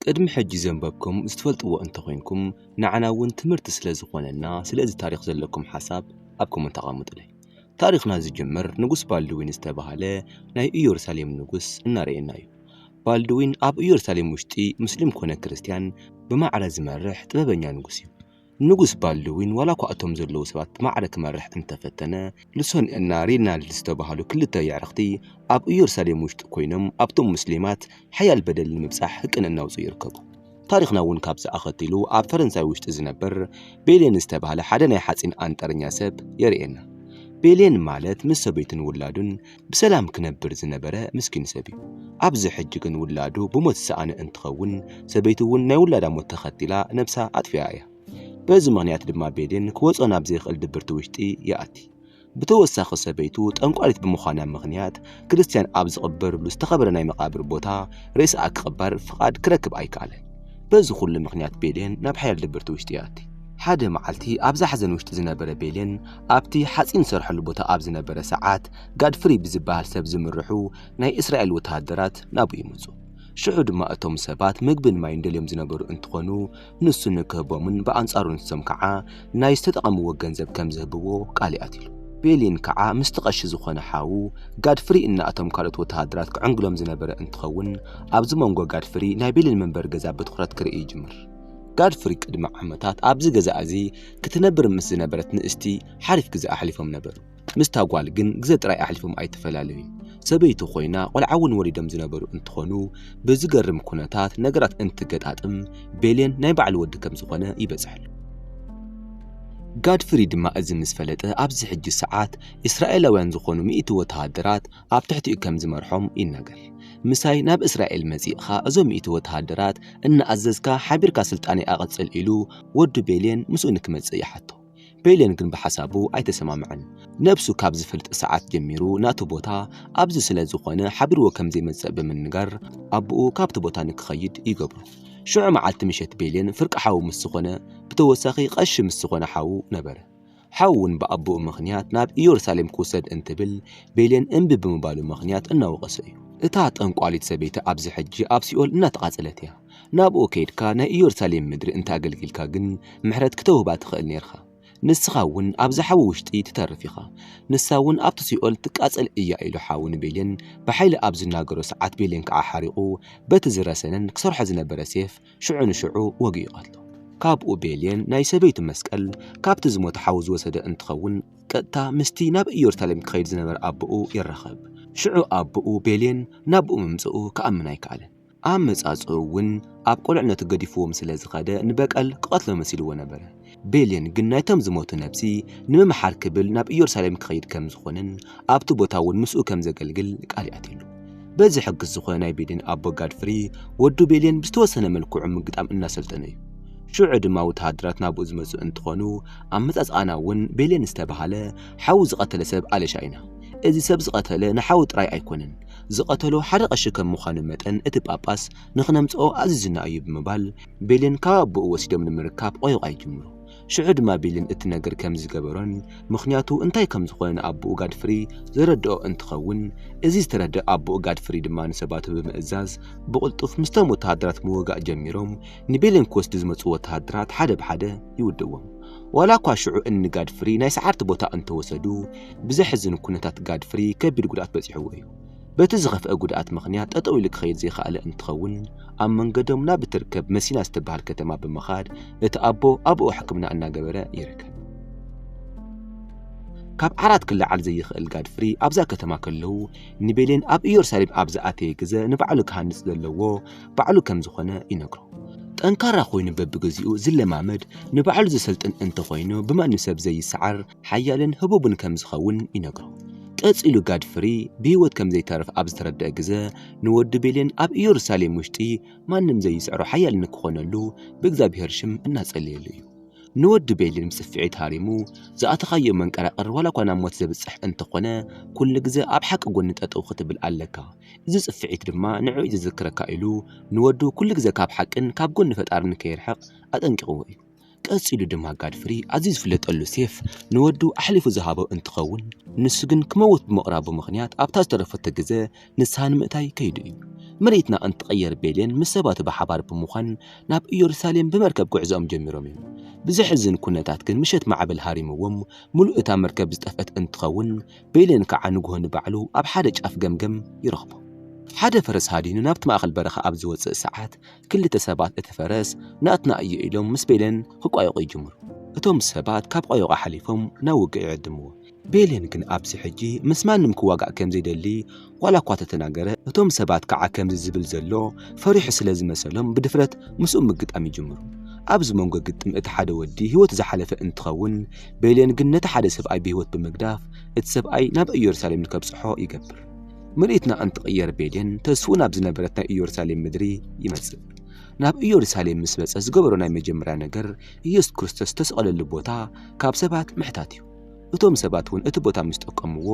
ቅድሚ ሕጂ ዘንበብኩም ዝትፈልጥዎ እንተኾይንኩም ንዓና ውን ትምህርቲ ስለ ዝኾነና ስለ እዚ ታሪኽ ዘለኩም ሓሳብ ኣብ ኮመንት ኣቐምጡለይ። ታሪኽና ዝጅምር ንጉስ ባልድዊን ዝተባህለ ናይ እዮርሳሌም ንጉስ እናረኤና እዩ። ባልድዊን ኣብ እዮርሳሌም ውሽጢ ሙስሊም ኮነ ክርስትያን ብማዕረ ዝመርሕ ጥበበኛ ንጉስ እዩ። ንጉስ ባልድዊን ዋላኳ እቶም ዘለዉ ሰባት ብማዕረ ክመርሕ እንተፈተነ፣ ልሶን እና ሪናልድ ዝተባህሉ ክልተ የዕርኽቲ ኣብ እዮርሳሌም ውሽጢ ኮይኖም ኣብቶም ሙስሊማት ሓያል በደል ንምብጻሕ ህቅን እናውጽኡ ይርከቡ። ታሪኽና እውን ካብዚ ኣኸቲሉ ኣብ ፈረንሳይ ውሽጢ ዝነበር ቤሌን ዝተባህለ ሓደ ናይ ሓጺን ኣንጠረኛ ሰብ የርእየና። ቤሌን ማለት ምስ ሰበይቱን ውላዱን ብሰላም ክነብር ዝነበረ ምስኪን ሰብ እዩ። ኣብዚ ሕጂ ግን ውላዱ ብሞት ዝሰኣነ እንትኸውን፣ ሰበይቱ እውን ናይ ውላዳ ሞት ተኸቲላ ነብሳ ኣጥፊኣ እያ። በዚ ምኽንያት ድማ ቤሊን ክወጾ ናብ ዘይክእል ድብርቲ ውሽጢ ይኣቲ። ብተወሳኺ ሰበይቱ ጠንቋሊት ብምዃና ምኽንያት፣ ክርስትያን ኣብ ዝቕበርሉ ዝተኸበረ ናይ መቓብር ቦታ ሬሳኣ ክቕበር ፍቓድ ክረክብ ኣይከኣለን። በዚ ኩሉ ምኽንያት ቤሊን ናብ ሓያል ድብርቲ ውሽጢ ይኣቲ። ሓደ መዓልቲ ኣብ ዛሕዘን ውሽጢ ዝነበረ ቤሊን፣ ኣብቲ ሓጺን ዝሰርሐሉ ቦታ ኣብ ዝነበረ ሰዓት፣ ጋድፍሪ ብዝበሃል ሰብ ዝምርሑ ናይ እስራኤል ወተሃደራት ናብኡ ይመጹ። ሽዑ ድማ እቶም ሰባት ምግብን ማይን ደልዮም ዝነበሩ እንትኾኑ፣ ንሱ ንክህቦምን ብኣንጻሩ ንሶም ከዓ ናይ ዝተጠቐምዎ ገንዘብ ከም ዝህብዎ ቃል ይኣትሉ። ቤሊን ከዓ ምስቲ ቀሺ ዝኾነ ሓዉ ጋድፍሪ እና እቶም ካልኦት ወተሃደራት ክዕንግሎም ዝነበረ እንትኸውን፣ ኣብዚ መንጎ ጋድፍሪ ናይ ቤሊን መንበሪ ገዛ ብትኹረት ክርኢ ይጅምር። ጋድፍሪ ቅድሚ ዓመታት ኣብዚ ገዛ እዚ ክትነብር ምስ ዝነበረት ንእስቲ ሓሪፍ ግዘ ኣሕሊፎም ነበሩ። ምስታ ጓል ግን ግዘ ጥራይ ኣሕሊፎም ኣይተፈላለዩን። ሰበይቱ ኮይና ቆልዓ እውን ወሊዶም ዝነበሩ እንትኾኑ ብዝገርም ኩነታት ነገራት እንትገጣጥም ቤሌን ናይ ባዕሉ ወዲ ከም ዝኾነ ይበፅሐሉ። ጋድፍሪ ድማ እዚ ምስ ፈለጠ ኣብዚ ሕጂ ሰዓት እስራኤላውያን ዝኾኑ ሚእቲ ወተሃደራት ኣብ ትሕቲኡ ከም ዝመርሖም ይናገር። ምሳይ ናብ እስራኤል መጺእኻ እዞም ሚእቲ ወተሃደራት እናኣዘዝካ ሓቢርካ ስልጣነይ ኣቐጽል ኢሉ ወዱ ቤልየን ምስኡ ንክመጽእ ይሓቶ። ቤልየን ግን ብሓሳቡ ኣይተሰማምዐን። ነብሱ ካብ ዝፈልጥ ሰዓት ጀሚሩ ናቱ ቦታ ኣብዚ ስለ ዝኾነ ሓቢርዎ ከም ዘይመጽእ ብምንጋር ኣቡኡ ካብቲ ቦታ ንክኸይድ ይገብሮ። ሽዑ መዓልቲ ምሸት ቤልየን ፍርቂ ሓው ምስ ዝኾነ ብተወሳኺ ቀሺ ምስ ዝኾነ ሓዉ ነበረ። ሓዉን ብኣቦኡ ምኽንያት ናብ እዮርሳሌም ክዉሰድ እንትብል ቤሌን እምቢ ብምባሉ ምኽንያት እናወቐሶ እዩ። እታ ጠንቋሊት ሰበይቲ ኣብዚ ሕጂ ኣብ ሲኦል እናተቓጸለት እያ። ናብኡ ከይድካ ናይ እዮርሳሌም ምድሪ እንተ ኣገልጊልካ ግን ምሕረት ክተዉህባ ትኽእል ኔርካ። ንስኻ እዉን ኣብዚ ሓዊ ዉሽጢ ትተርፍ ኢኻ። ንሳ እዉን ኣብቲ ሲኦል ትቃጸል እያ ኢሉ ሓዉ ንቤሌን ብሓይሊ ኣብ ዝናገሮ ሰዓት ቤሌን ከኣ ሓሪቑ በቲ ዝረሰነን ክሰርሖ ዝነበረ ሴፍ ሽዑ ንሽዑ ወግኡ ይቐትሎ። ካብኡ ቤልየን ናይ ሰበይቱ መስቀል ካብቲ ዝሞተ ሓዉ ዝወሰደ እንትኸውን ቀጥታ ምስቲ ናብ ኢየሩሳሌም ክኸይድ ዝነበረ ኣቦኡ ይራኸብ። ሽዑ ኣቦኡ ቤልየን ናብኡ ምምጽኡ ክኣምን ኣይከኣለን። ኣመጻጽእኡ እውን ኣብ ቁልዕነቱ ገዲፍዎም ስለ ዝኸደ ንበቀል ክቐትሎ መሲልዎ ነበረ። ቤልን ግን ናይቶም ዝሞቱ ነብሲ ንምምሓር ክብል ናብ ኢየሩሳሌም ክኸይድ ከም ዝኾነን ኣብቲ ቦታ እውን ምስኡ ከም ዘገልግል ቃል ይኣትየሉ። በዚ ሕግስ ዝኾነ ናይ ቤልን ኣቦ ጋድፍሪ ወዱ ቤልን ብዝተወሰነ መልክዑ ምግጣም እናሰልጠነ እዩ። ሽዑ ድማ ወተሃደራት ናብኡ ዝመጹ እንትኾኑ ኣመጻጽኣና እውን ቤልን ዝተባሃለ ሓዉ ዝቐተለ ሰብ ኣለሻ ኢና። እዚ ሰብ ዝቐተለ ንሓዉ ጥራይ ኣይኮነን ዝቐተሎ ሓደ ቀሺ ከም ምዃኑ መጠን እቲ ጳጳስ ንኽነምጽኦ ኣዚዙና እዩ ብምባል ቤልን ካብ ኣቦኡ ወሲዶም ንምርካብ ቆይቋይ ጅምሩ። ሽዑ ድማ ቤልን እቲ ነገር ከም ዝገበሮን ምኽንያቱ እንታይ ከም ዝኾነ ንኣቦኡ ጋድፍሪ ዘረድኦ እንትኸውን እዚ ዝተረድእ ኣቦኡ ጋድፍሪ ድማ ንሰባቱ ብምእዛዝ ብቕልጡፍ ምስቶም ወተሃደራት ምውጋእ ጀሚሮም ንቤልን ክወስዱ ዝመጹ ወተሃደራት ሓደ ብሓደ ይውድእዎም። ዋላ እኳ ሽዑ እኒ ጋድፍሪ ናይ ሰዓርቲ ቦታ እንተወሰዱ ብዘሕዝን ኩነታት ጋድፍሪ ከቢድ ጉድኣት በጺሕዎ እዩ። በቲ ዝኸፍአ ጉድኣት ምኽንያት ጠጠው ኢሉ ክኸይድ ዘይኸኣለ እንትኸውን ኣብ መንገዶም ናብ እትርከብ መሲና ዝተበሃል ከተማ ብምኻድ እቲ ኣቦ ኣብኡ ሕክምና እናገበረ ይርከብ። ካብ ዓራት ክለዓል ዘይኽእል ጋድፍሪ ኣብዛ ከተማ ከለዉ ንቤሌን ኣብ ኢየሩሳሌም ኣብ ዝኣተየ ግዘ ንባዕሉ ክሃንፅ ዘለዎ ባዕሉ ከም ዝኾነ ይነግሮ። ጠንካራ ኮይኑ በብግዚኡ ዝለማመድ ንባዕሉ ዘሰልጥን እንተኾይኑ ብማንም ሰብ ዘይሰዓር ሓያልን ህቡብን ከም ዝኸውን ይነግሮ። ቀጺሉ ጋድፍሪ ብህይወት ከም ዘይተርፍ ኣብ ዝተረድኣ ግዘ ንወዱ ቤሌን ኣብ እዮሩሳሌም ውሽጢ ማንም ዘይጽዕሮ ሓያል ንክኾነሉ ብእግዚኣብሔር ሽም እናጸለየሉ እዩ። ንወዱ ቤሌን ብጽፍዒት ሃሪሙ ዝኣተኻዮ መንቀራቕር ዋላኳ ናብ ሞት ዘብጽሕ እንተኾነ ኩሉ ግዘ ኣብ ሓቂ ጎኒ ጠጠው ክትብል ኣለካ እዚ ጽፍዒት ድማ ንዕኡ እዩ ዘዘክረካ ኢሉ ንወዱ ኩሉ ግዘ ካብ ሓቅን ካብ ጎኒ ፈጣርን ከይርሕቕ ኣጠንቂቕዎ እዩ። ቀጺሉ ድማ ጋድፍሪ ኣዝዩ ዝፍለጠሉ ሴፍ ንወዱ ኣሕሊፉ ዝሃቦ እንትኸውን ንሱ ግን ክመውት ብምቕራቡ ምኽንያት ኣብታ ዝተረፈቶ ግዘ ንስሃ ንምእታይ ከይዱ እዩ። ምርኢትና እንትቕየር ቤሌን ምስ ሰባቱ ብሓባር ብምዃን ናብ ኢየሩሳሌም ብመርከብ ጉዕዞኦም ጀሚሮም እዮም። ብዘሕዝን ኩነታት ግን ምሸት ማዕበል ሃሪምዎም ምሉእ እታ መርከብ ዝጠፍአት እንትኸውን ቤሌን ከዓ ንጉሆ ንባዕሉ ኣብ ሓደ ጫፍ ገምገም ይረኽቦ። ሓደ ፈረስ ሃዲኑ ናብቲ ማእኸል በረኻ ኣብ ዝወፅእ ሰዓት ክልተ ሰባት እቲ ፈረስ ናትና እዩ ኢሎም ምስ ቤሌን ክቋየቑ ይጅምሩ። እቶም ሰባት ካብ ቋየቋ ሓሊፎም ናብ ውግእ ይዕድምዎ። ቤሌን ግን ኣብዚ ሕጂ ምስ ማንም ክዋጋእ ከም ዘይደሊ ዋላ እኳ ተተናገረ፣ እቶም ሰባት ከዓ ከምዚ ዝብል ዘሎ ፈሪሑ ስለ ዝመሰሎም ብድፍረት ምስኡ ምግጣም ይጅምሩ። ኣብዚ መንጎ ግጥም እቲ ሓደ ወዲ ህይወቱ ዝሓለፈ እንትኸውን፣ ቤሌን ግን ነቲ ሓደ ሰብኣይ ብህይወት ብምግዳፍ እቲ ሰብኣይ ናብ እዮርሳሌም ንከብጽሖ ይገብር። ምርኢት ንኣንትቕየር ቤዴን ተስፉ ናብ ዝነበረት ናይ ኢየሩሳሌም ምድሪ ይመጽእ ናብ ኢየሩሳሌም ምስ መጸ ዝገበሮ ናይ መጀመርያ ነገር ኢየሱስ ክርስቶስ ዝተሰቐለሉ ቦታ ካብ ሰባት ምሕታት እዩ እቶም ሰባት እውን እቲ ቦታ ምስ ጠቀምዎ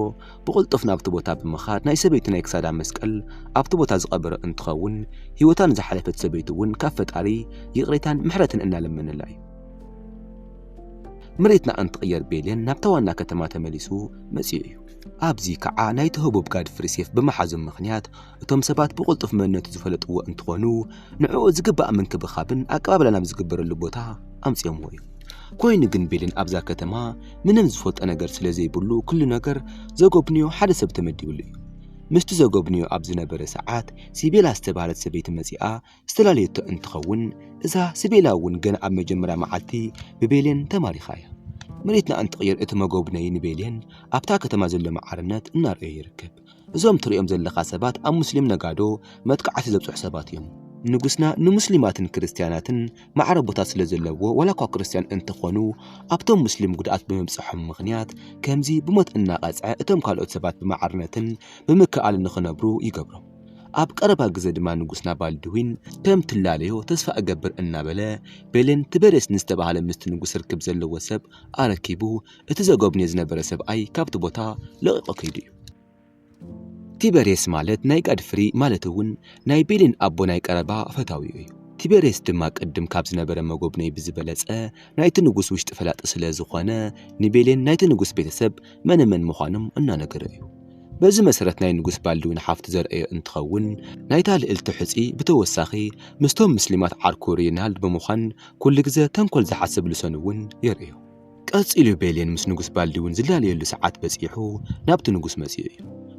ብቕልጡፍ ናብቲ ቦታ ብምኻድ ናይ ሰበይቲ ናይ ክሳዳ መስቀል ኣብቲ ቦታ ዝቐበረ እንትኸውን ህይወታ ንዝሓለፈት ሰበይቲ እውን ካብ ፈጣሪ ይቕሬታን ምሕረትን እናለመነላ እዩ መሬትና እንትቕየር ቤሌን ናብታ ዋና ከተማ ተመሊሱ መጺኡ እዩ ኣብዚ ከዓ ናይቲ ህቡብ ጋድፍሪ ሴፍ ብምሓዞም ምኽንያት እቶም ሰባት ብቕልጡፍ መንነቱ ዝፈለጥዎ እንትኾኑ ንዕኡ ዝግባእ ምንክብኻብን ኣቀባብላ ናብ ዝግበረሉ ቦታ ኣምፂኦምዎ እዩ። ኮይኑ ግን ቤልን ኣብዛ ከተማ ምንም ዝፈልጦ ነገር ስለ ዘይብሉ ኩሉ ነገር ዘጎብንዮ ሓደ ሰብ ተመዲብሉ እዩ። ምስቲ ዘጎብንዮ ኣብ ዝነበረ ሰዓት ሲቤላ ዝተባህለት ሰበይቲ መፂኣ ዝተላለየቶ እንትኸውን እዛ ስቤላ እውን ገና ኣብ መጀመርያ መዓልቲ ብቤሌን ተማሪኻ እያ። መሬትና እንትቕይር እቲ መጎብነዪ ንቤሌን ኣብታ ከተማ ዘሎ መዓርነት እናርኣዮ ይርከብ። እዞም ትርእዮም ዘለኻ ሰባት ኣብ ሙስሊም ነጋዶ መጥቃዕቲ ዘብጽሑ ሰባት እዮም። ንጉስና ንሙስሊማትን ክርስትያናትን ማዕረ ቦታ ስለ ዘለዎ ዋላ እኳ ክርስትያን እንተኾኑ ኣብቶም ሙስሊም ጉድኣት ብምብጽሖም ምኽንያት ከምዚ ብሞት እናቐጽዐ እቶም ካልኦት ሰባት ብማዕርነትን ብምክእኣልን ንኽነብሩ ይገብሮም። ኣብ ቀረባ ግዘ ድማ ንጉስና ባልድዊን ከም ትላለዮ ተስፋ እገብር እናበለ ቤሌን ትበሬስ ንዝተባህለ ምስቲ ንጉስ ርክብ ዘለዎ ሰብ ኣረኪቡ እቲ ዘጎብንዮ ዝነበረ ሰብኣይ ካብቲ ቦታ ለቒቖ ከይዱ እዩ። ቲበሬስ ማለት ናይ ጋድፍሪ ማለት እውን ናይ ቤሌን ኣቦ ናይ ቀረባ ፈታዊኡ እዩ። ቲበሬስ ድማ ቅድም ካብ ዝነበረ መጎብነይ ብዝበለፀ ናይቲ ንጉስ ውሽጢ ፈላጢ ስለዝኾነ ንቤሌን ናይቲ ንጉስ ቤተሰብ መነ መን ምዃኖም እናነገረ እዩ። በዚ መሰረት ናይ ንጉስ ባልድዊን ሓፍቱ ዘርእዮ እንትኸውን ናይታ ልእልቲ ሕጺ ብተወሳኺ ምስቶም ምስሊማት ዓርኩ ሪይናልድ ብምዃን ኩሉ ግዘ ተንኮል ዝሓስብ ልሶን እውን የርእዮ። ቀጺሉ ቤሌን ምስ ንጉስ ባልድዊን ዝላለየሉ ሰዓት በጺሑ ናብቲ ንጉስ መጺኡ እዩ።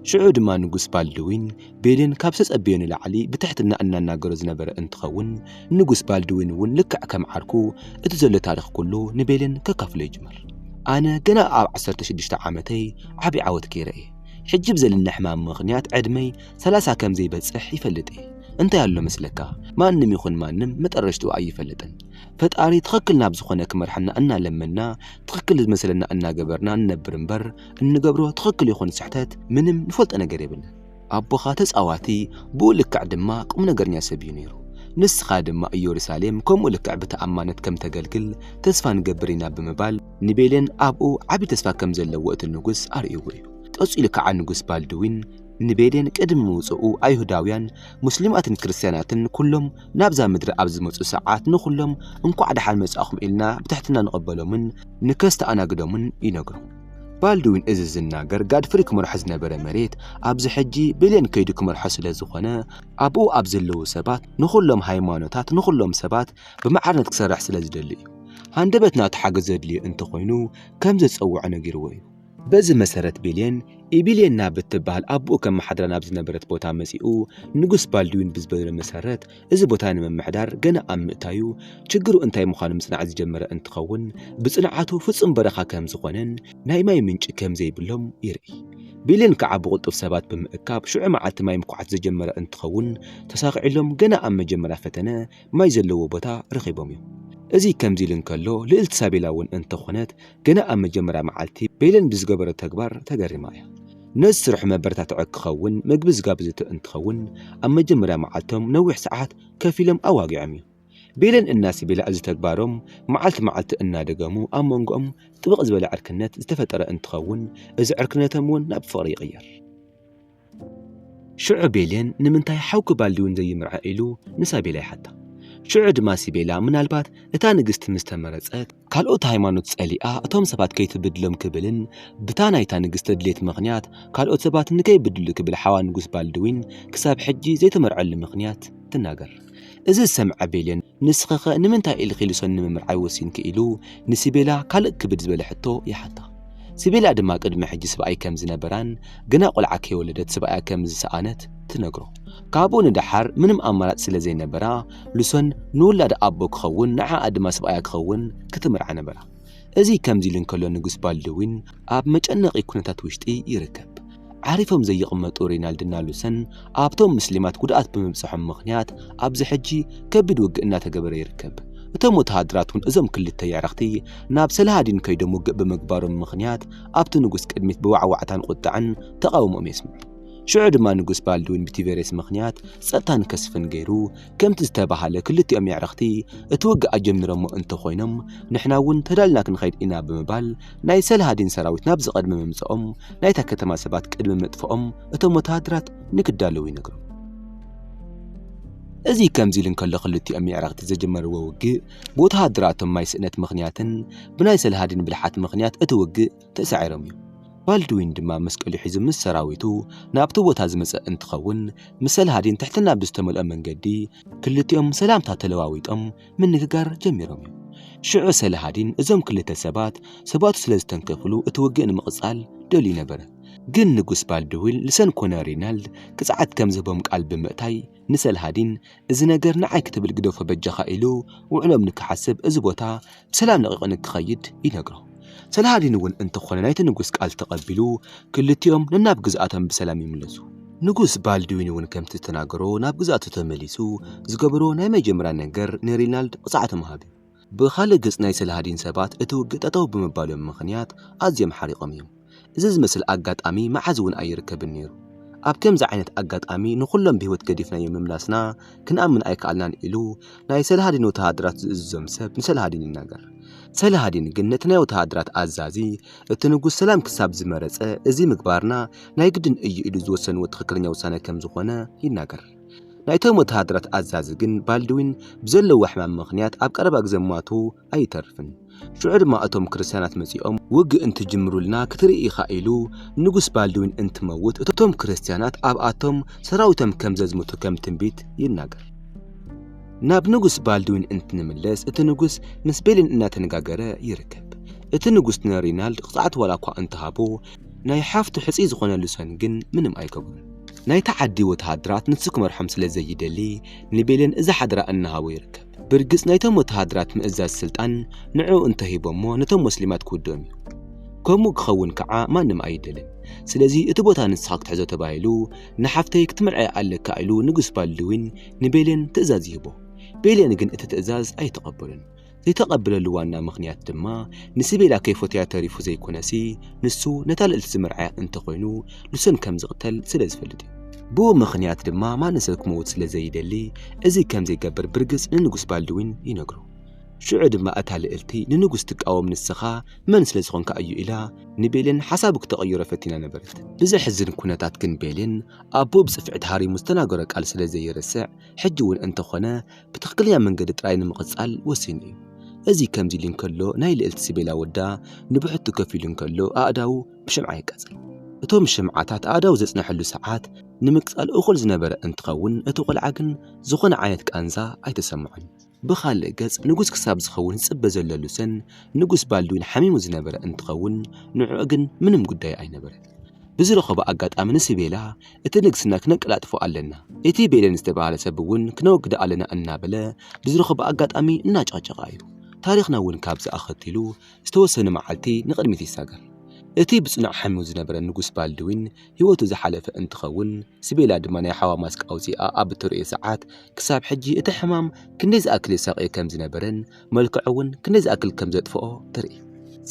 ሽዑ ድማ ንጉስ ባልድዊን ቤሊን ካብ ዝተጸበዮ ንላዕሊ ብትሕትና እናናገሮ ዝነበረ እንትኸውን ንጉስ ባልድዊን እውን ልክዕ ከም ዓርኩ እቲ ዘሎ ታሪኽ ኩሉ ንቤሊን ከካፍሎ ይጅምር። ኣነ ገና ኣብ ዓሰርተ ሽዱሽተ ዓመተይ ዓቢ ዓወት ገይረ እየ። ሕጂ ብዘለኒ ሕማም ምኽንያት ዕድመይ ሰላሳ ከም ዘይበጽሕ ይፈልጥ እየ። እንታይ ኣሎ መስለካ፣ ማንም ይኹን ማንም መጠረሽትኡ ኣይፈልጥን። ፈጣሪ ትኽክል ናብ ዝኾነ ክመርሓና እናለመንና ትኽክል ዝመስለና እናገበርና ንነብር እምበር፣ እንገብሮ ትኽክል ይኹን ስሕተት ምንም ንፈልጦ ነገር የብልን። ኣቦኻ ተጻዋቲ ብኡ ልክዕ ድማ ቁም ነገርኛ ሰብ እዩ ነይሩ። ንስኻ ድማ ኢየሩሳሌም ከምኡ ልክዕ ብተኣማነት ከም ተገልግል ተስፋ ንገብር ኢና ብምባል ንቤሌን ኣብኡ ዓቢ ተስፋ ከም ዘለዎ እቲ ንጉስ ኣርእይዎ እዩ። ቀጺሉ ከኣ ንጉስ ባልድዊን ንቤሌን ቅድሚ ምውጽኡ ኣይሁዳውያን፣ ሙስሊማትን ክርስትያናትን ኩሎም ናብዛ ምድሪ ኣብ ዝመጹ ሰዓት ንኹሎም እንኳዕ ደሓን መጻእኹም ኢልና ብትሕትና ንቐበሎምን ንከስተኣናግዶምን ይነግሩ። ባልድዊን እዚ ዝናገር ጋድፍሪ ክመርሖ ዝነበረ መሬት ኣብዚ ሕጂ ብሌን ከይዱ ክመርሖ ስለ ዝኾነ ኣብኡ ኣብ ዘለዉ ሰባት ንኹሎም ሃይማኖታት ንኹሎም ሰባት ብማዕርነት ክሰርሕ ስለ ዝደሊ እዩ። ሃንደበት ናቱ ሓገዝ ዘድልዮ እንተኾይኑ ከም ዘጸውዖ ነጊርዎ እዩ። በዚ መሰረት ቤሌን ኢቢሌና ብትበሃል ኣቦኡ ከመሓድራ ናብ ዝነበረት ቦታ መጺኡ ንጉስ ባልድዊን ብዝበሎ መሰረት እዚ ቦታ ንምምሕዳር ገና ኣብ ምእታዩ ችግሩ እንታይ ምዃኑ ምጽናዕ ዝጀመረ እንትኸውን ብጽንዓቱ ፍጹም በረኻ ከም ዝኾነን ናይ ማይ ምንጪ ከም ዘይብሎም ይርኢ። ቤሌን ከዓ ብቕልጡፍ ሰባት ብምእካብ ሽዑ መዓልቲ ማይ ምኩዓት ዝጀመረ እንትኸውን ተሳኺዕሎም ገና ኣብ መጀመርያ ፈተነ ማይ ዘለዎ ቦታ ረኺቦም እዮም። እዚ ከምዚ ኢሉ እንከሎ ልእልቲ ሳቤላ እውን እንተኾነት ገና ኣብ መጀመርያ መዓልቲ በይለን ብዝገበሮ ተግባር ተገሪማ እያ። ነዚ ስርሑ መበረታትዒ ክኸውን ምግቢ ዝጋብዘቶ እንትኸውን ኣብ መጀመርያ መዓልቶም ነዊሕ ሰዓት ከፍ ኢሎም ኣዋጊዖም እዮም። በይለን እና ስቤላ እዚ ተግባሮም መዓልቲ መዓልቲ እናደገሙ ኣብ መንጎኦም ጥብቕ ዝበለ ዕርክነት ዝተፈጠረ እንትኸውን እዚ ዕርክነቶም እውን ናብ ፍቕሪ ይቕየር። ሽዑ ቤሌን ንምንታይ ሓውኪ ባልዲውን ዘይምርዐ ኢሉ ንሳቤላ ይሓታ። ሽዑ ድማ ሲቤላ ምናልባት እታ ንግስቲ ምስ ተመረጸት ካልኦት ሃይማኖት ጸሊኣ እቶም ሰባት ከይትብድሎም ክብልን ብታ ናይታ ንግስቲ ድሌት ምኽንያት ካልኦት ሰባት ንከይብድሉ ክብል ሓዋ ንጉስ ባልድዊን ክሳብ ሕጂ ዘይተመርዐሉ ምኽንያት ትናገር። እዚ ዝሰምዐ ቤልን ንስኺኸ ንምንታይ ኢልኺ ልሶን ንምምርዓይ ወሲንኪ ኢሉ ንሲቤላ ካልእ ክብድ ዝበለ ሕቶ ይሓታ። ሲቤላ ድማ ቅድሚ ሕጂ ስብኣይ ከም ዝነበራን ገና ቆልዓ ከይወለደት ስብኣያ ከም ዝሰኣነት ትነግሮ። ካብኡ ንደሓር ምንም ኣማራጺ ስለ ዘይነበራ ልሶን ንውላዳ ኣቦ ክኸውን ንዓኣ ድማ ስብኣያ ክኸውን ክትምርዓ ነበራ። እዚ ከምዚ ኢሉ እንከሎ ንጉስ ባልድዊን ኣብ መጨነቒ ኩነታት ውሽጢ ይርከብ። ዓሪፎም ዘይቕመጡ ሬናልድ እና ሉሰን ኣብቶም ምስሊማት ጉድኣት ብምብፀሖም ምኽንያት ኣብዚ ሕጂ ከቢድ ውግእ እናተገበረ ይርከብ። እቶም ወተሃደራት እውን እዞም ክልተ የዕርኽቲ ናብ ሰላሃዲን ከይዶም ውግእ ብምግባሮም ምኽንያት ኣብቲ ንጉስ ቅድሚት ብዋዕዋዕታን ቁጠዐን ተቓውሞኦም የስምዑ። ሽዑ ድማ ንጉስ ባልድዊን ብቲቨሬስ ምኽንያት ፀጥታ ንከስፍን ገይሩ ከምቲ ዝተባህለ ክልቲኦም የዕርኽቲ እቲ ውግእ ኣጀሚሮሞ እንተኾይኖም ንሕና እውን ተዳልና ክንኸይድ ኢና ብምባል ናይ ሰላሃዲን ሰራዊት ናብዚ ቅድሚ ምምጽኦም ናይታ ከተማ ሰባት ቅድሚ ምጥፍኦም እቶም ወተሃደራት ንክዳለዉ ይነግሮም። እዚ ከምዚ ኢሉ እንከሎ ክልቲኦም የዕረኽቲ ዘጀመርዎ ውግእ ብወተሃደራቶም ማይ ስእነት ምኽንያትን ብናይ ሰልሃዲን ብልሓት ምኽንያት እቲ ውግእ ተሳዒሮም እዮም። ባልድዊን ድማ መስቀሉ ሒዙ ምስ ሰራዊቱ ናብቲ ቦታ ዝመጸ እንትኸውን፣ ምስ ሰላሃዲን ትሕትና ብዝተመልኦ መንገዲ ክልቲኦም ሰላምታ ተለዋዊጦም ምንግጋር ጀሚሮም እዮም። ሽዑ ሰላሃዲን እዞም ክልተ ሰባት ሰባቱ ስለ ዝተንከፍሉ እቲ ውግእ ንምቕጻል ደልዩ ነበረ፣ ግን ንጉስ ባልድዊን ልሰን ኮነ ሪናልድ ቅጽዓት ከም ዝህቦም ቃል ብምእታይ፣ ንሰልሃዲን እዚ ነገር ንዓይ ክትብል ግደፎ በጃኻ ኢሉ ውዕሎም ንክሓስብ እዚ ቦታ ብሰላም ለቒቑ ንክኸይድ ይነግሮ። ሰልሃዲን እውን እንተኾነ ናይቲ ንጉስ ቃል ተቐቢሉ ክልቲኦም ነናብ ግዝኣቶም ብሰላም ይምለሱ። ንጉስ ባልድዊን እውን ከምቲ ዝተናገሮ ናብ ግዝኣቱ ተመሊሱ ዝገበሮ ናይ መጀመርያ ነገር ንሪናልድ ቅፅዓት ምሃብ እዩ። ብኻልእ ገፅ ናይ ሰላሃዲን ሰባት እቲ ውግእ ጠጠው ብምባሎም ምኽንያት ኣዝዮም ሓሪቖም እዮም። እዚ ዝመስል ኣጋጣሚ መዓዝ እውን ኣይርከብን ነይሩ። ኣብ ከምዚ ዓይነት ኣጋጣሚ ንኹሎም ብህይወት ገዲፍናዮም ምምላስና ክንኣምን ኣይከኣልናን ኢሉ ናይ ሰላሃዲን ወተሃደራት ዝእዝዞም ሰብ ንሰላሃዲን ይናገር። ሰላሃዲን ግን ነቲ ናይ ወተሃደራት ኣዛዚ እቲ ንጉስ ሰላም ክሳብ ዝመረፀ እዚ ምግባርና ናይ ግድን እዩ ኢሉ ዝወሰንዎ ትኽክለኛ ውሳነ ከምዝኾነ ይናገር። ናይቶም ወተሃደራት ኣዛዚ ግን ባልድዊን ብዘለዎ ሕማም ምኽንያት ኣብ ቀረባ ግዜ ምሟቱ ኣይተርፍን። ሽዑ ድማ እቶም ክርስትያናት መጺኦም ውግእ እንትጅምሩልና ክትርኢ ኢኻ ኢሉ ንጉስ ባልድዊን እንትመውት እቶም ክርስትያናት ኣብኣቶም ሰራዊቶም ከም ዘዝምቱ ከም ትንቢት ይናገር። ናብ ንጉስ ባልድዊን እንትንምለስ እቲ ንጉስ ምስ ቤሊን እናተነጋገረ ይርከብ። እቲ ንጉስ ንሪናልድ ቅፅዓት ዋላ እኳ እንተሃቦ ናይ ሓፍቱ ሕጽይ ዝኾነሉ ሰን ግን ምንም ኣይገብሩን። ናይታ ዓዲ ወተሃደራት ንሱ ክመርሖም ስለ ዘይደሊ ንቤሌን እዛ ሓደራ እናሃቦ ይርከብ። ብርግጽ ናይቶም ወተሃደራት ምእዛዝ ስልጣን ንዕኡ እንተሂቦሞ ነቶም ሞስሊማት ክውድኦም እዩ። ከምኡ ክኸውን ከኣ ማንም ኣይደልን። ስለዚ እቲ ቦታ ንስኻ ክትሕዞ ተባሂሉ ንሓፍተይ ክትምርዐያ ኣለካ ኢሉ ንጉስ ባልድዊን ንቤሌን ትእዛዝ ይህቦ። ቤሌን ግን እቲ ትእዛዝ ኣይትቐበሎን። ዘይተቐብለሉ ዋና ምኽንያት ድማ ንሲቤላ ከይፎተያ ተሪፉ ዘይኮነሲ ንሱ ነታ ልእልቲ ዝመርዓያ እንተኾይኑ ንሶን ከም ዝቕተል ስለ ዝፈልጥ እዩ። ብኡ ምኽንያት ድማ ማንም ሰብ ክመውት ስለ ዘይደሊ እዚ ከም ዘይገብር ብርግጽ ንንጉስ ባልድዊን ይነግሮ። ሽዑ ድማ እታ ልእልቲ ንንጉስ ትቃወም ንስኻ መን ስለ ዝኾንካ እዩ ኢላ ንቤሌን ሓሳቡ ክተቐይሮ ፈቲና ነበረት። ብዘሕዝን ኩነታት ግን ቤሌን ኣቦኡ ብጽፍዒ ተሃሪሙ ዝተናገሮ ቃል ስለ ዘይርስዕ ሕጂ እውን እንተኾነ ብትኽክለኛ መንገዲ ጥራይ ንምቕጻል ወሲኑ እዩ። እዚ ከምዚ ኢሉ እንከሎ ናይ ልእልቲ ሲቤላ ወዳ ንብሕቱ ከፍ ኢሉ እንከሎ ኣእዳዉ ብሽምዓ የቃጽል። እቶም ሽምዓታት ኣእዳዉ ዘጽነሐሉ ሰዓት ንምቅጻል እኹል ዝነበረ እንትኸውን እቲ ቆልዓ ግን ዝኾነ ዓይነት ቃንዛ ኣይተሰምዖን። ብኻልእ ገጽ ንጉስ ክሳብ ዝኸውን ዝጽበ ዘሎ ሉሰን ንጉስ ባልድዊን ሓሚሙ ዝነበረ እንትኸውን ንዕኡ ግን ምንም ጉዳዩ ኣይነበረን። ብዝረኸቦ ኣጋጣሚ ንሲቤላ እቲ ንግስና ክነቀላጥፎ ኣለና፣ እቲ ቤለን ዝተባህለ ሰብ እውን ክነወግዶ ኣለና እናበለ ብዝረኸቦ ኣጋጣሚ እናጨቕጨቓ እዩ። ታሪኽና እውን ካብዚ ኣኸቲሉ ዝተወሰኑ መዓልቲ ንቕድሚት ይሳገር። እቲ ብጽኑዕ ሓሚው ዝነበረ ንጉስ ባልድዊን ህይወቱ ዝሓለፈ እንትኸውን፣ ስቤላ ድማ ናይ ሓዋ ማስክ ኣውጺኣ ኣብ እትርእዮ ሰዓት ክሳብ ሕጂ እቲ ሕማም ክንደይ ዝኣክል የሳቕዮ ከም ዝነበረን መልክዑ እውን ክንደይ ዝኣክል ከም ዘጥፍኦ ትርኢ።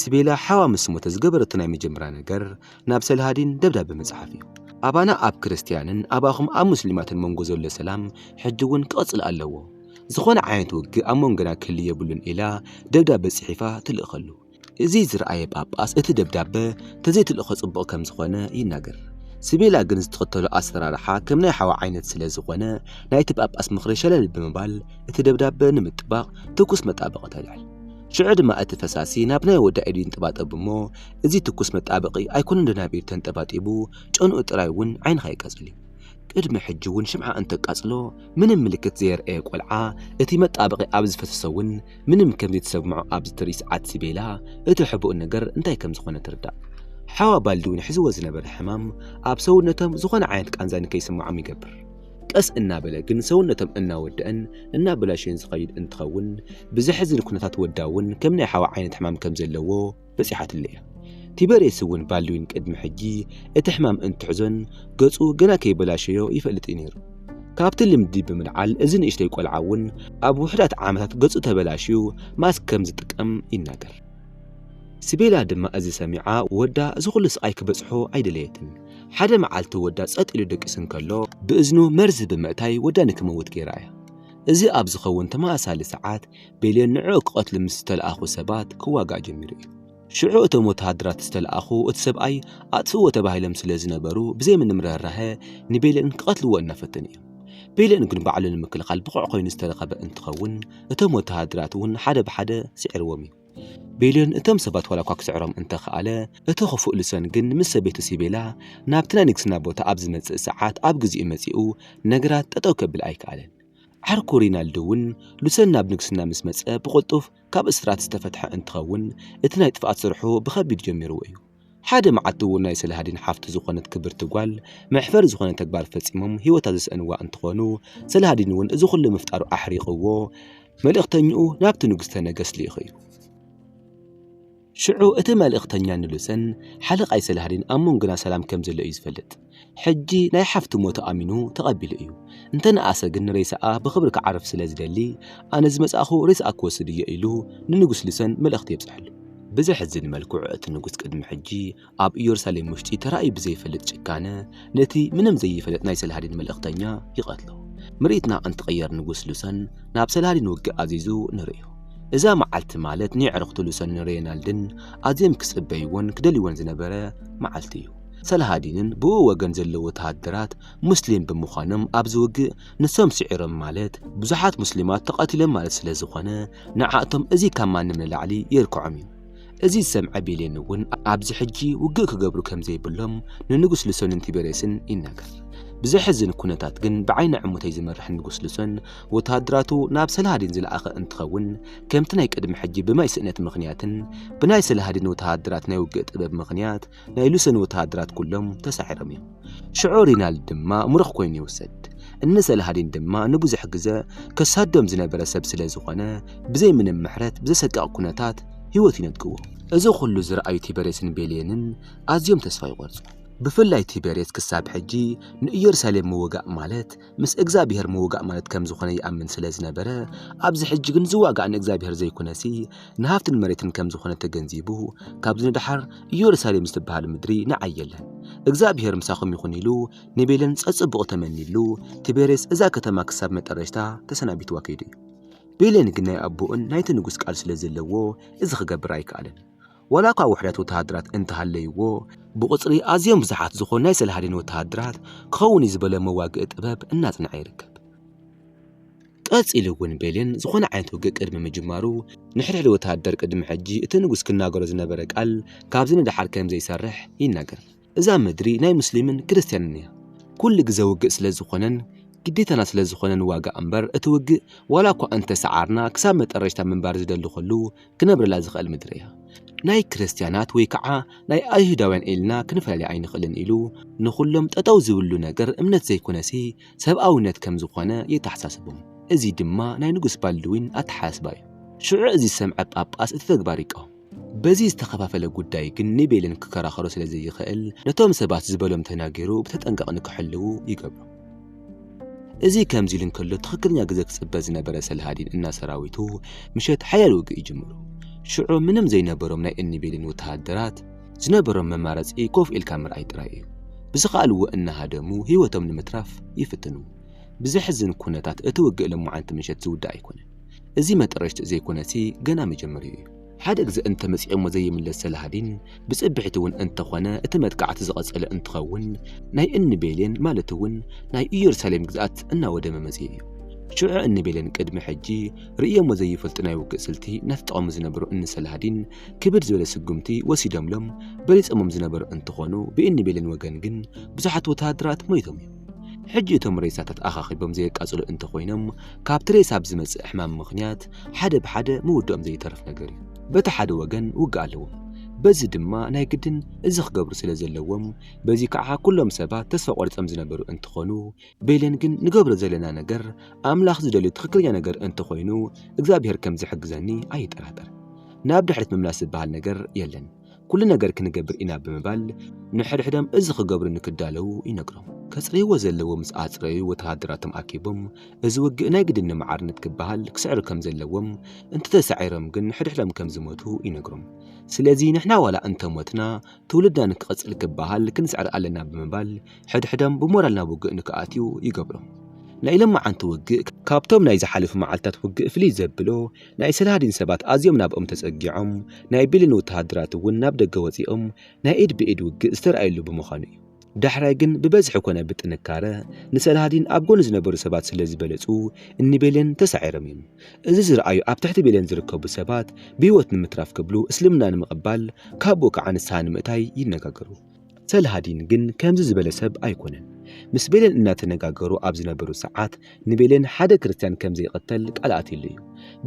ስቤላ ሓዋ ምስ ሞተ ዝገበረቶ ናይ መጀመርያ ነገር ናብ ሰልሃዲን ደብዳበ ምጽሓፍ እዩ። ኣባና ኣብ ክርስትያንን ኣባኹም ኣብ ሙስሊማትን መንጎ ዘሎ ሰላም ሕጂ እውን ክቕጽል ኣለዎ። ዝኾነ ዓይነት ውግእ ኣብ መንጎና ክህሉ የብሉን ኢላ ደብዳበ ጽሒፋ ትልእኸሉ። እዚ ዝረኣየ ጳጳስ እቲ ደብዳበ ተዘይትልእኾ ጽቡቕ ከም ዝኾነ ይናገር። ስቤላ ግን ዝትኸተሎ ኣሰራርሓ ከም ናይ ሓዋ ዓይነት ስለ ዝኾነ ናይቲ ጳጳስ ምኽሪ ሸለል ብምባል እቲ ደብዳበ ንምጥባቕ ትኩስ መጣበቒ ተልዕል። ሽዑ ድማ እቲ ፈሳሲ ናብ ናይ ወዳ ኢዱ ይንጥባጠብ እሞ እዚ ትኩስ መጣበቂ ኣይኮነን ደናቢር ተንጠባጢቡ ጨንኡ ጥራይ እውን ዓይንኻ የቃጽል እዩ። ቅድሚ ሕጂ እውን ሽምዓ እንተቃጽሎ ምንም ምልክት ዘየርኣየ ቆልዓ እቲ መጣበቂ ኣብ ዝፈሰሶ እውን ምንም ከም ዘይተሰምዖ ኣብ ዝትርኢ ሰዓት ሲቤላ እቲ ሕቡእ ነገር እንታይ ከም ዝኾነ ትርዳእ። ሓዋ ባልድዊን ሕዝዎ ዝነበረ ሕማም ኣብ ሰውነቶም ዝኾነ ዓይነት ቃንዛ ንከይስምዖም ይገብር። ቀስ እናበለ ግን ሰውነቶም እናወደኣን እናበላሸየን ዝኸይድ እንትኸውን ብዘሕዝን ኩነታት ወዳ እውን ከም ናይ ሓዋ ዓይነት ሕማም ከም ዘለዎ በጺሓትሉ እያ። ቲበርየስ እውን ባልድዊን ቅድሚ ሕጂ እቲ ሕማም እንትሕዞን ገጹ ገና ከይበላሸዮ ይፈልጥ'ዩ ነይሩ። ካብቲ ልምዲ ብምልዓል እዚ ንእሽተይ ቆልዓ እውን ኣብ ውሑዳት ዓመታት ገጹ ተበላሽዩ ማስክ ከም ዝጥቀም ይናገር። ስቤላ ድማ እዚ ሰሚዓ ወዳ እዚ ኹሉ ስቓይ ክበጽሖ ኣይደለየትን። ሓደ መዓልቲ ወዳ ጸጥ ኢሉ ደቂሱ እንከሎ ብእዝኑ መርዚ ብምእታይ ወዳ ንክመውት ገይራ እያ። እዚ ኣብ ዝኸውን ተመሳሳሊ ሰዓት ቤልዮን ንዕኡ ክቐትሉ ምስ ዝተለኣኹ ሰባት ክዋጋእ ጀሚሩ እዩ። ሽዑ እቶም ወተሃደራት ዝተለኣኹ እቲ ሰብኣይ ኣጥፍእዎ ተባሂሎም ስለ ዝነበሩ ብዘይ ምንም ርህራሀ ንቤልዮን ክቐትልዎ እናፈተኑ እዮም። ቤልዮን ግን ባዕሉ ንምክልኻል ብቑዕ ኮይኑ ዝተረኸበ እንትኸውን እቶም ወተሃደራት እውን ሓደ ብሓደ ስዒርዎም እዩ። ቤልዮን እቶም ሰባት ዋላ እኳ ክስዕሮም እንተኸኣለ እቲ ክፉእ ልሶን ግን ምስ ሰበይቱ ሲቤላ ናብቲ ናይ ንግስና ቦታ ኣብ ዝመጽእ ሰዓት ኣብ ግዜኡ መጺኡ ነገራት ጠጠው ከብል ኣይከኣለን። ዓርኩ ሪናልዶ እውን ሉሰን ናብ ንግስና ምስ መጸ ብቕልጡፍ ካብ እስራት ዝተፈትሐ እንትኸውን እቲ ናይ ጥፍኣት ስርሑ ብኸቢድ ጀሚርዎ እዩ። ሓደ መዓልቲ እውን ናይ ሰላሃዲን ሓፍቱ ዝኾነት ክብርቲ ጓል መሕፈሪ ዝኾነ ተግባር ፈጺሞም ህይወታ ዘስእንዋ እንትኾኑ ሰላሃዲን እውን እዚ ኩሉ ምፍጣሩ ኣሕሪቕዎ መልእኽተኝኡ ናብቲ ንጉስተ ነገስት ልኢኹ እዩ። ሽዑ እቲ መልእኽተኛ ንሉሰን ሓለቓይ ሰላህዲን ኣብ መንጎና ሰላም ከም ዘሎ እዩ ዝፈልጥ። ሕጂ ናይ ሓፍቱ ሞት ኣሚኑ ተቐቢሉ እዩ። እንተ ነኣሰ ግን ሬሳኣ ብኽብሪ ክዓርፍ ስለ ዝደሊ ኣነ ዝመጻእኩ ሬሳኣ ክወስድ እየ ኢሉ ንንጉስ ሉሰን መልእኽቲ የብጽሐሉ። ብዘሕዝን መልክዑ እቲ ንጉስ ቅድሚ ሕጂ ኣብ ኢየሩሳሌም ውሽጢ ተራእዩ ብዘይፈልጥ ጭካነ ነቲ ምንም ዘይፈልጥ ናይ ሰላሃዲን መልእኽተኛ ይቐትሎ። ምርኢትና እንትቕየር ንጉስ ሉሰን ናብ ሰላሃዲን ውግእ ኣዚዙ ንርእዮ። እዛ መዓልቲ ማለት ንየዕርኽቱ ሉሰንን ሬይናልድን ኣዝዮም ክጽበይዎን ክደልይዎን ዝነበረ መዓልቲ እዩ። ሰላሃዲንን ብእኡ ወገን ዘለዉ ወተሃደራት ሙስሊም ብምዃኖም ኣብዚ ውግእ ንሶም ስዒሮም ማለት ብዙሓት ሙስሊማት ተቐቲሎም ማለት ስለዝኾነ ንዓኣቶም እዚ ካብ ማንም ንላዕሊ የልክዖም እዩ። እዚ ዝሰምዐ ቤሌን እውን ኣብዚ ሕጂ ውግእ ክገብሩ ከም ዘይብሎም ንንጉስ ልሶንን ቲቤሬስን ይናገር። ብዘሕዝን ኩነታት ግን ብዓይኒ ዕሙተይ ዝምራሕ ንጉስ ልሶን ወተሃደራቱ ናብ ሰላሃዲን ዝለኣኸ እንትኸውን ከምቲ ናይ ቅድሚ ሕጂ ብማይ ስእነት ምኽንያትን ብናይ ሰላሃዲን ወተሃደራት ናይ ውግእ ጥበብ ምኽንያት ናይ ሉሰን ወተሃደራት ኩሎም ተሳዒሮም እዮም። ሽዑ ሪናልድ ድማ ምሩኽ ኮይኑ ይውሰድ። እነ ሰላሃዲን ድማ ንብዙሕ ግዘ ከሳዶም ዝነበረ ሰብ ስለ ዝኾነ ብዘይ ምንም ምሕረት ብዘሰቅቕ ኩነታት ህይወቱ ይነድግዎ። እዚ ኩሉ ዝረኣዩ ቲበሬስን ቤልየንን ኣዝዮም ተስፋ ይቖርጹ። ብፍላይ ቲበሬስ ክሳብ ሕጂ ንእየሩሳሌም ምውጋእ ማለት ምስ እግዛብሄር ምውጋእ ማለት ከም ዝኾነ ይኣምን ስለ ዝነበረ፣ ኣብዚ ሕጂ ግን ዝዋጋእ ንእግዛብሄር ዘይኩነሲ ንሃፍትን መሬትን ከም ዝኾነ ተገንዚቡ፣ ካብዚ ንደሓር እዮርሳሌም ዝትበሃል ምድሪ ንዓይ የለን፣ እግዛብሄር ምሳኹም ይኹን ኢሉ ንቤለን ጸጽቡቑ ተመኒሉ፣ ትቤሬስ እዛ ከተማ ክሳብ መጠረሽታ ተሰናቢትዋ ከይዱ እዩ። ቤሌን ግን ናይ ኣቦኡን ናይቲ ንጉስ ቃል ስለ ዘለዎ እዚ ክገብር ኣይከኣለን። ዋላኳ ውሕደት ወተሃደራት እንተሃለይዎ፣ ብቑጽሪ ኣዝዮም ብዙሓት ዝኾኑ ናይ ሰላሃዲን ወተሃደራት ክኸውን እዩ ዝበሎ መዋግኢ ጥበብ እናጽንዐ ይርከብ። ቀጺሉ እውን ቤሊን ዝኾነ ዓይነት ውግእ ቅድሚ ምጅማሩ ንሕድሕድ ወተሃደር ቅድሚ ሕጂ እቲ ንጉስ ክናገሮ ዝነበረ ቃል ካብዚ ንደሓር ከምዘይሰርሕ ይናገር። እዛ ምድሪ ናይ ሙስሊምን ክርስትያንን እያ ኩሉ ግዘ ውግእ ስለ ዝኾነን ግዴታና ስለ ዝኾነ ንዋጋእ እምበር እቲ ውግእ ዋላ እኳ እንተ ሰዓርና ክሳብ መጠረሽታ ምንባር ዝደሊ ኹሉ ክነብረላ ዝኽእል ምድሪ እያ ናይ ክርስትያናት ወይ ከዓ ናይ ኣይሁዳውያን ኢልና ክንፈላልያ ኣይንኽእልን ኢሉ ንኹሎም ጠጠው ዝብልሉ ነገር እምነት ዘይኮነሲ ሰብኣዊነት ከም ዝኾነ የተሓሳስቦም እዙይ ድማ ናይ ንጉስ ባልድዊን ኣተሓሳስባ እዩ ሽዑ እዙይ ዝሰምዐ ጳጳስ እቲ ተግባር ይቃወም በዚ ዝተኸፋፈለ ጉዳይ ግን ንቤልን ክከራኸሮ ስለ ዘይኽእል ነቶም ሰባት ዝበሎም ተናጊሩ ብተጠንቀቕ ንክሕልዉ ይገብሮም። እዚ ከምዚ ኢሉ እንከሎ ትኽክለኛ ግዘ ክፅበ ዝነበረ ሰልሃዲን እና ሰራዊቱ ምሸት ሓያል ውግእ ይጅምሩ። ሽዑ ምንም ዘይነበሮም ናይ እኒ ቤልን ወተሃደራት ዝነበሮም መማረፂ ኮፍ ኢልካ ምርኣይ ጥራይ እዩ። ብዝኸኣልዎ እናሃደሙ ህይወቶም ንምትራፍ ይፍትኑ። ብዘሕዝን ኩነታት እቲ ውግእ ሎማዓንቲ ምሸት ዝውዳእ ኣይኮነን። እዚ መጠረሽትኡ ዘይኮነሲ ገና መጀመሪኡ እዩ። ሓደ ግዘ እንተመፂኦሞ ዘይምለስ ሰላሃዲን ብፅብሒቲ እውን እንተኾነ እቲ መጥቃዕቲ ዝቐፀለ እንትኸውን ናይ እኒ ቤሌን ማለት እውን ናይ እየሩሳሌም ግዝኣት እናወደመ መፂኡ እዩ። ሽዑ እኒ ቤሌን ቅድሚ ሕጂ ርእዮሞ ዘይፈልጡ ናይ ውግእ ስልቲ እናተጠቐሙ ዝነበሩ እኒ ሰላሃዲን ክብድ ዝበለ ስጉምቲ ወሲዶምሎም በሊፆሞም ዝነበሩ እንትኾኑ ብእኒ ቤሌን ወገን ግን ብዙሓት ወተሃደራት ሞይቶም እዮም። ሕጂ እቶም ሬሳታት ኣኻኺቦም ዘየቃጽሉ እንተኾይኖም ካብቲ ሬሳ ብዝመጽእ ሕማም ምኽንያት ሓደ ብሓደ ምውድኦም ዘይተርፍ ነገር እዩ። በቲ ሓደ ወገን ውግእ ኣለዎም፣ በዚ ድማ ናይ ግድን እዚ ክገብሩ ስለ ዘለዎም፣ በዚ ከኣ ኩሎም ሰባት ተስፋ ቆሪጾም ዝነበሩ እንትኾኑ፣ ቤለን ግን ንገብሮ ዘለና ነገር ኣምላኽ ዝደልዮ ትኽክለኛ ነገር እንተኾይኑ እግዚኣብሄር ከም ዝሕግዘኒ ኣይጠራጠርን። ናብ ድሕሪት ምምላስ ዝበሃል ነገር የለን። ኩሉ ነገር ክንገብር ኢና ብምባል ንሕድሕዶም እዚ ክገብሩ ንክዳለዉ ይነግሮም። ከጽርይዎ ዘለዎ ምስ ኣጽረዩ ወተሃደራቶም ኣኪቦም እዚ ውግእ ናይ ግድን ንመዓርነት ክበሃል ክስዕሩ ከም ዘለዎም እንተተሳዒሮም ግን ንሕድሕዶም ከም ዝሞቱ ይነግሮም። ስለዚ ንሕና ዋላ እንተ ሞትና ትውልድና ንክቕጽል ክበሃል ክንስዕር ኣለና ብምባል ሕድሕዶም ብሞራል ናብ ውግእ ንክኣትዩ ይገብሮም። ናይ ሎምዓንቲ ውግእ ካብቶም ናይ ዝሓለፉ መዓልታት ውግእ ፍልይ ዘብሎ ናይ ሰላሃዲን ሰባት ኣዝዮም ናብኦም ተጸጊዖም፣ ናይ ቢልን ወተሃደራት እውን ናብ ደገ ወጺኦም ናይ ኢድ ብኢድ ውግእ ዝተራእየሉ ብምዃኑ እዩ። ዳሕራይ ግን ብበዝሒ ኮነ ብጥንካረ ንሰላሃዲን ኣብ ጎኑ ዝነበሩ ሰባት ስለ ዝበለጹ እኒ ቤሌን ተሳዒሮም እዮም። እዚ ዝረኣዩ ኣብ ትሕቲ ቤሌን ዝርከቡ ሰባት ብህይወት ንምትራፍ ክብሉ እስልምና ንምቕባል ካቡኡ ከዓ ንስሃ ንምእታይ ይነጋገሩ። ሰልሃዲን ግን ከምዚ ዝበለ ሰብ ኣይኮነን። ምስ ቤሌን እናተነጋገሩ ኣብ ዝነበሩ ሰዓት ንቤሌን ሓደ ክርስትያን ከም ዘይቅተል ቃል ኣትይሉ እዩ።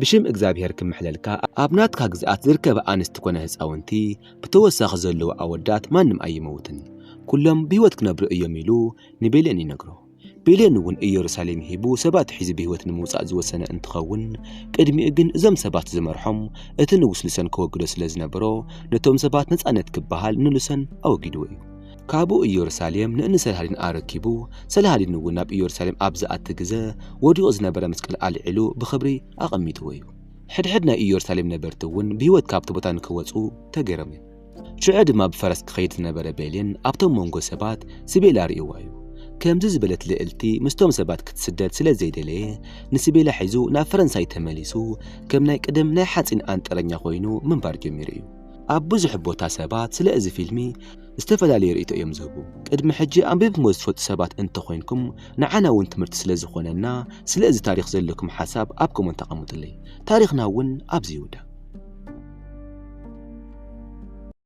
ብሽም እግዝኣብሄር ክምሕለልካ ኣብ ናትካ ግዝኣት ዝርከባ ኣንስቲ ኮነ ህጻውንቲ ብተወሳኺ ዘለዉ ኣወዳት ማንም ኣይመውትን ኩሎም ብህይወት ክነብሩ እዮም ኢሉ ንቤሌን ይነግሮ። ብሌን እውን እየሩሳሌም ሂቡ ሰባት ሒዙ ብህይወት ንምውፃእ ዝወሰነ እንትኸውን ቅድሚኡ ግን እዞም ሰባት ዝመርሖም እቲ ንጉስ ሉሰን ከወግዶ ስለ ዝነበሮ ነቶም ሰባት ነፃነት ክበሃል ንሉሰን ኣወጊድዎ እዩ። ካብኡ እየሩሳሌም ንእንሰልሃዲን ኣረኪቡ ሰልሃዲን እውን ናብ እየሩሳሌም ኣብ ዝኣቲ ግዘ ወዲቑ ዝነበረ መስቀል ኣልዒሉ ብኽብሪ ኣቐሚጥዎ እዩ። ሕድሕድ ናይ እየሩሳሌም ነበርቲ እውን ብህይወት ካብቲ ቦታ ንክወፁ ተገይሮም እዮም። ሽዑ ድማ ብፈረስ ክኸይድ ዝነበረ ቤሌን ኣብቶም መንጎ ሰባት ስቤላ ርእይዋ እዩ። ከምዚ ዝበለት ልእልቲ ምስቶም ሰባት ክትስደድ ስለ ዘይደለየ ንስቤላ ሒዙ ናብ ፈረንሳይ ተመሊሱ ከም ናይ ቅድም ናይ ሓጺን ኣንጥረኛ ኮይኑ ምንባር ጀሚሩ እዩ። ኣብ ብዙሕ ቦታ ሰባት ስለ እዚ ፊልሚ ዝተፈላለየ ርእይቶ እዮም ዝህቡ። ቅድሚ ሕጂ ኣንቢብክሞ ዝትፈልጡ ሰባት እንተ ኾይንኩም ንዓና ውን ትምህርቲ ስለ ዝኾነና ስለ እዚ ታሪኽ ዘለኩም ሓሳብ ኣብ ኮመንት ኣቐምጡለይ ታሪኽና ውን ኣብዚ ይውዳእ።